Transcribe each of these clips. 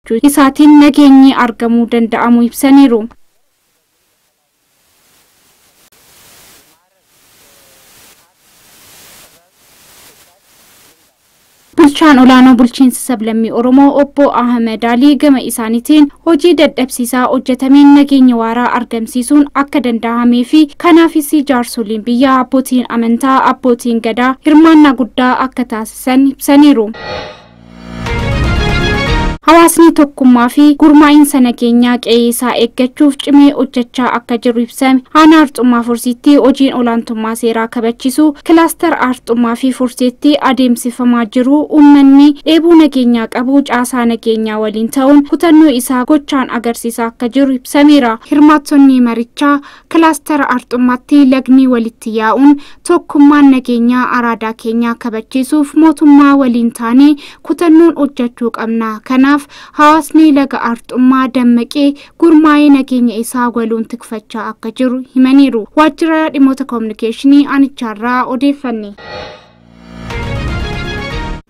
jiraachuu isaatiin nageenyi argamuu danda'amuu ibsaniiru. Bulchaan olaanoo bulchiinsa sablammii Oromoo obbo Ahmed Alii gama isaaniitiin hojii dadhabsiisaa hojjetameen nageenya waaraa argamsiisuun akka danda'amee fi kanaafis jaarsoliin biyyaa abbootiin amantaa abbootiin gadaa hirmaannaa guddaa akka taasisan ibsaniiru. Hawaasni tokkummaa fi gurmaa'insa nageenyaa qe'ee isaa eeggachuuf cimee hojjechaa akka jiru ibsame. Aanaa Arxummaa Fursiitti hojiin olaantummaa seeraa kabachiisuu kilaastara Arxummaa fi Fursiitti adeemsifamaa jiru uummanni dheebuu nageenyaa qabu caasaa nageenyaa waliin ta'uun kutannoo isaa gochaan agarsiisaa akka jiru ibsameera. Hirmaattonni marichaa Kilaastara Arxummaatti lagni walitti yaa'uun tokkummaan nageenyaa araadaa keenyaa kabachiisuuf mootummaa waliin taanee kutannoon hojjechuu qabna. Kanaaf hawaasni laga Arxummaa dammaqee gurmaa'ee nageenya isaa waloon tikfachaa akka jiru himaniiru. Waajjira Dhimmoota Koominikeeshinii Aanichaarraa odeeffanne.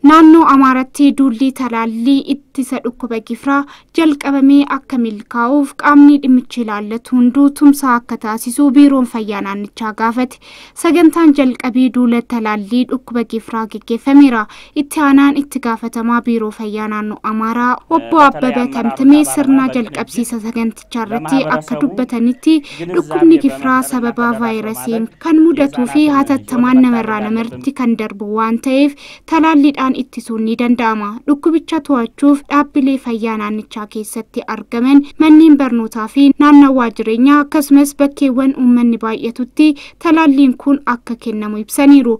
Naannoo Amaaratti duulli talaallii ittisa dhukkuba gifiraa jalqabamee akka milkaa'uuf qaamni dhimmichi ilaallatu hunduu tumsaa akka taasisu biiroon fayyaa naannichaa gaafate. Sagantaan jalqabii duula talaallii dhukkuba gifiraa geggeeffameera. Itti aanaan itti gaafatamaa biiroo fayyaa naannoo Amaaraa obbo Abbaba Tamtamee sirna jalqabsiisa sagantichaa irratti akka dubbatanitti dhukkubni gifiraa sababa vaayirasiin kan mudatuu fi hatattamaan namarraa namarratti kan darbu waan ta'eef talaalliidhaan ittisuun ni danda'ama. Dhukkubicha to'achuuf dhaabbilee fayyaa naannichaa keessatti argaman manneen barnootaa fi naannawaa jireenyaa akkasumas bakkeewwan uummanni baay'atutti talaalliin kun akka kennamu ibsaniiru.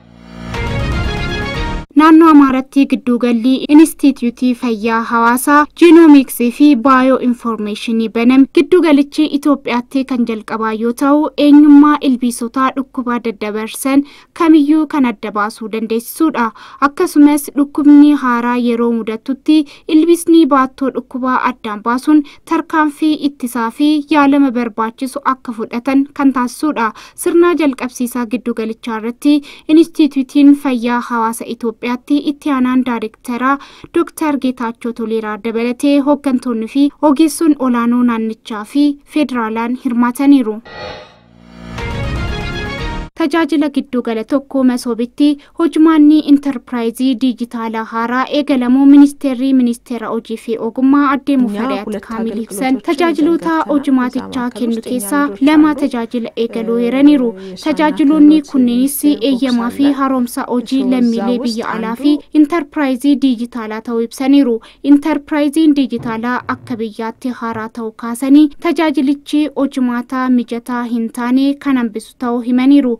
Naannoo Amaaratti gidduugalli Inistiitiyuutii Fayyaa Hawaasaa Jiinoomiiksii fi Baayoo Infoormeeshinii baname. Giddugalichi Itoophiyaatti kan jalqabaa yoo ta'u, eenyummaa ilbiisotaa dhukkuba daddabarsan kamiyyuu kan adda baasuu dandeessisuudha. Akkasumas dhukkubni haaraa yeroo mudatutti ilbiisni baattoo dhukkubaa addaan baasuun tarkaanfii ittisaa fi yaalama barbaachisu akka fudhatan kan taasisuudha. Sirnaa jalqabsiisaa giddugalichaa irratti Inistiitiyuutiin Fayyaa Hawaasa Itoophiyaatti Itti Aanaan Daarektaraa Dooktar Geetaachoo Toleeraa dabalatee hooggantoonni fi ogeessoon olaanoo naannichaa fi federaalaan hirmaataniiru. Tajaajila Giddugala 1 Masoobitti Hojmaanni Intarpiraayizii Diijitaalaa haaraa eegalamuu Ministeerri Ministeera Hojii fi Ogummaa Addee Mufariyaat Kaamil ibsan. Tajaajiloota hojmaatichaa kennu keessaa lama tajaajila eegaluu eeraniiru. Tajaajiloonni kunneenis eeyyamaa fi haroomsa hojii lammiilee biyya alaa fi Intarpiraayizii Diijitaalaa ta'uu ibsaniiru. Intarpiraayiziin Diijitaalaa akka biyyaatti haaraa ta'uu kaasanii tajaajilichi hojmaata mijataa hin taane kan hambisu ta'uu himaniiru.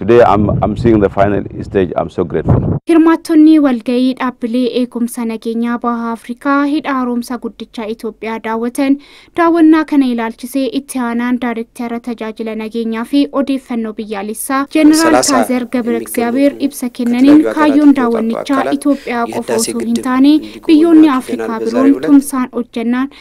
Today I'm, I'm seeing the final stage. I'm so grateful. Hirmaattonni walga'ii dhaabbilee eegumsa nageenyaa baha Afrikaa hidha haaromsa guddicha Itoophiyaa daawwatan daawwannaa kana ilaalchisee itti aanaan daariktara tajaajila nageenyaa fi odeeffannoo biyyaalessaa Jeneraal Kaazer Gabra Egzaabeer ibsa kennaniin kaayyoon daawwannichaa Itoophiyaa qofa osoo hin taane biyyoonni Afrikaa biroon tumsaan hojjannaan